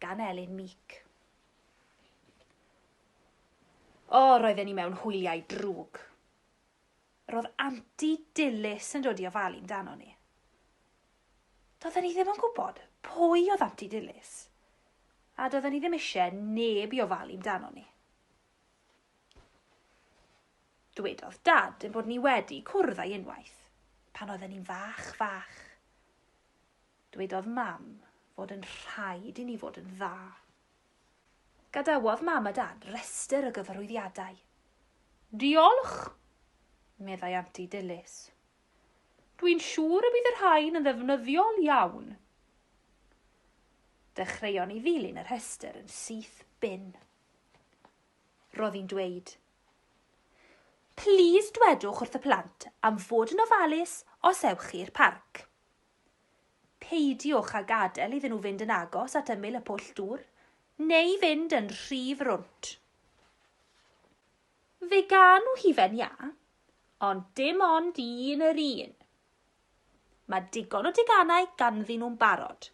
gan Elin Meek. O, roedden ni mewn hwyliau drwg. Roedd anti Dilys yn dod i ofalu amdano ni. Doedden ni ddim yn gwybod pwy oedd anti Dilys, a doedden ni ddim eisiau neb i ofalu amdano ni. Dwedodd dad yn bod ni wedi cwrdd â'i unwaith, pan oedden ni'n fach, fach. Dwedodd Mam fod yn rhaid i ni fod yn dda. Gadawodd Mam a Dad restr o gyfarwyddiadau. Diolch! meddai Anti Dilys. Dwi'n siŵr y bydd y rhain yn ddefnyddiol iawn. Dechreuon ni ddilyn y rhestr yn syth bin. Roedd hi'n dweud, Plîs dwedwch wrth y plant am fod yn ofalus os ewch chi i'r parc. Peidiwch â gadael iddyn nhw fynd yn agos at ymyl y pwll dŵr, neu fynd yn rhy frwnt. Fe gawn nhw hufen iâ, ond dim ond un yr un. Mae digon o deganau ganddyn nhw'n barod,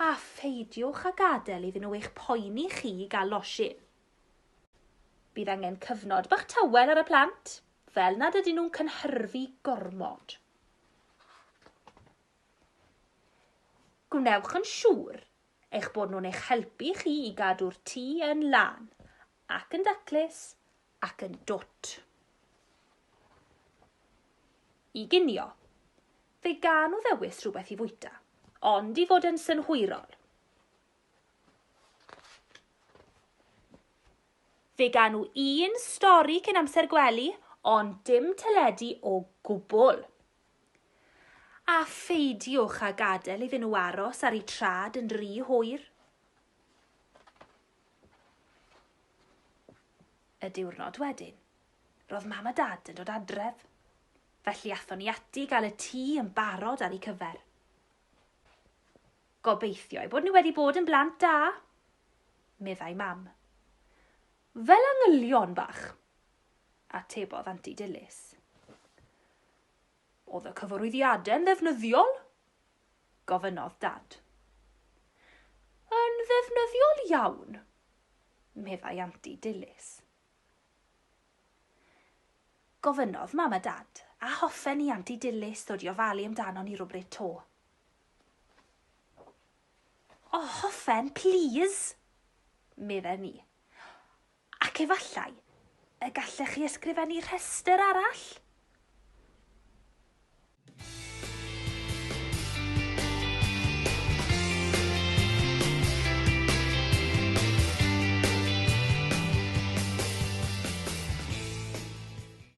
a pheidiwch â gadael iddyn nhw eich poeni chi i gael losin. Bydd angen cyfnod bach tawel ar y plant, fel nad ydyn nhw'n cynhyrfu gormod. Gwnewch yn siŵr eich bod nhw'n eich helpu chi i gadw'r tŷ yn lân, ac yn daclus, ac yn dwt. I ginio, fe gawn nhw ddewis rhywbeth i fwyta, ond i fod yn synhwyrol, Fe gawn nhw un stori cyn amser gwely, ond dim teledu o gwbl. A pheidiwch â gadael iddyn nhw aros ar eu trad yn rhy hwyr. Y diwrnod wedyn, roedd mam a dad yn dod adref, felly athon ni ati gael y tŷ yn barod ar eu cyfer. Gobeithio eu bod nhw wedi bod yn blant da, meddai Mam. Fel angylion bach, atebodd Anti Dilys. Oedd y cyfarwyddiadau'n ddefnyddiol? gofynnodd Dad. Yn ddefnyddiol iawn, meddai Anti Dilys. Gofynnodd Mam a Dad, a hoffen i Anti Dilys ddod i ofalu amdano ni rywbryd to. O, hoffen, plîs! medden ni. Ac efallai y gallech chi ysgrifennu rhestr arall?